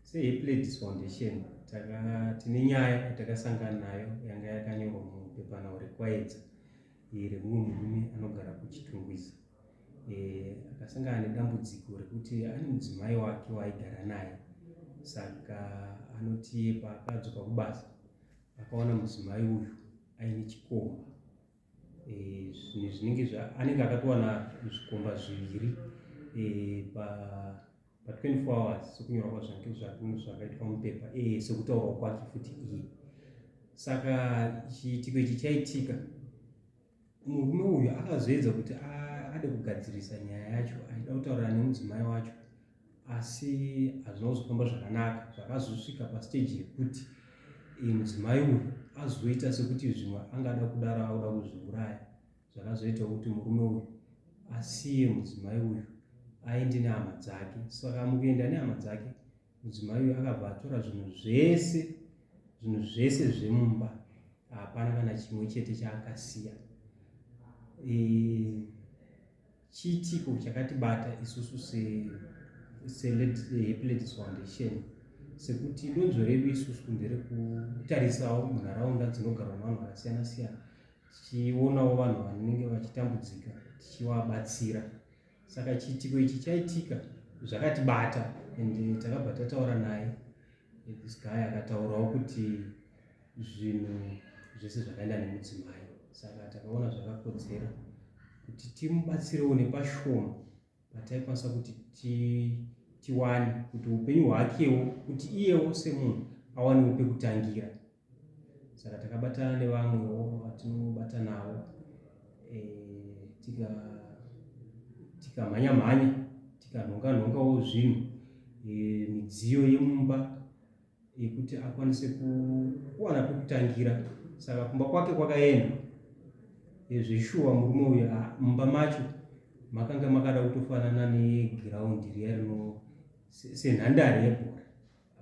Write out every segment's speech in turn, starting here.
seepledis foundation tine nyaya yatakasangana nayo yanga yakanyorwa mupepanhau rekwaedza remumwe murume anogara kuchitungwiza eh, akasangana nedambudziko rekuti ane mudzimai wake waaigara naye saka anotiye paakadzoka kubasa akaona mudzimai uyu aine chikomba e, zvinhu zvinenge anenge akatowana zvikomba zviviri e, pa pa 24 hours sokunyora kwazvange zvakunhu zvakaitwa mupepa e, sokutaurwa kwake futi iye saka chiitiko ichi chaitika murume uyu akazoedza kuti ade kugadzirisa nyaya yacho aida kutaurira nemudzimai wacho asi hazvina kuzofamba zvakanaka zvakazosvika pasteji yekuti eh, mudzimai uyu azoita sekuti zvimwe angada kudaro akuda kuzviuraya zvakazoita kuti murume uyu asiye mudzimai uyu aende nehama dzake saka mukuenda nehama dzake mudzimai uyu akabva atora zvinhu zvese zvinhu zvese zvemumba hapana kana chimwe chete chaakasiya eh, Chiitiko chakatibata isusu seHappy Ladies Foundation sekuti donzvo redu isusu nderekutarisawo munharaunda dzinogarwa vanhu vakasiyana siyana tichionawo vanhu vanenge vachitambudzika tichivabatsira saka chiitiko ichi chaitika zvakatibata and takabva tataura naye this guy akataurawo kuti zvinhu zvese zvakaenda nemudzimai saka takaona zvakakodzera kuti timubatsirewo nepashoma pataikwanisa kuti tiwane kuti upenyu hwakewo kuti iyewo semunhu awanewo pekutangira saka takabatana nevamwewo vatinobata navo e, tikamhanya mhanya tikanhonga nhongawo zvinhu e, midziyo yemumba yekuti akwanise kuwana pekutangira saka kumba kwake kwakaenda zvishuwa murume uyu ah, mumba macho makanga makada kutofanana negiraundi riya rino senhandare yebhora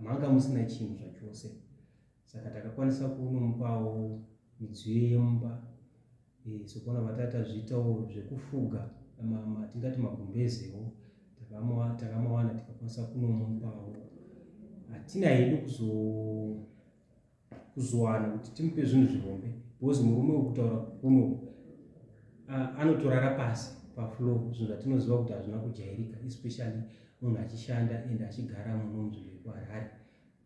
manga musina chinhu zvachose saka takakwanisa kunomupawo midziyo yemumba e, sokuona vatata zviitawo zvekufuga ma, ma, tingati magumbezewo takamawana tikakwanisa kunomupawo hatina hedu kuzowana kuti timupe zvinhu zvihombe because murume wekutaura kuno anotorara pasi paflow zvinhu zvatinoziva kuti hazvina kujairika especially munhu achishanda and achigara muno munzvimbo yekuharare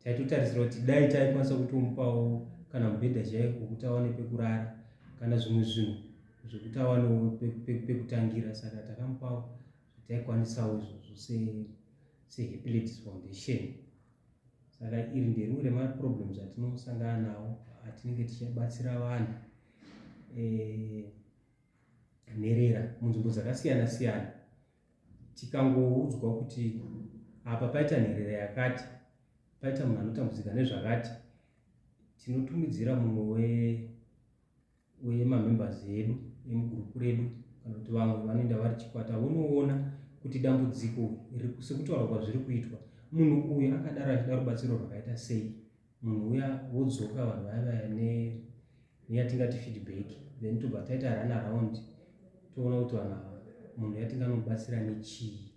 taitotarisira kuti dai taikwanisa kutomupawo kana mubhedha chaiko kuti awane pekurara kana zvimwe zvinhu zvekuti awanewo pekutangira saka takamupawo taikwanisa izvozvo seepilepsy foundation saka iri nderimwe remaproblems atinosangana nawo atinenge tichibatsira vanhu eh, nherera munzvimbo dzakasiyana siyana tikangoudzwa kuti apa paita nherera yakati paita munhu anotambudzika nezvakati tinotumidzira mumwe wemamembers edu emugurupu redu kana kuti vamwe vanoenda vari chikwata vonoona kuti dambudziko sekutaura kwazviri kuitwa munhu uyu akadaro achida rubatsiro rwakaita sei munhu uya wodzoka vanhu vaya vaya neyatingati feedback then tobva taita run around toona kuti vanhu ava munhu yatinganobatsira nechii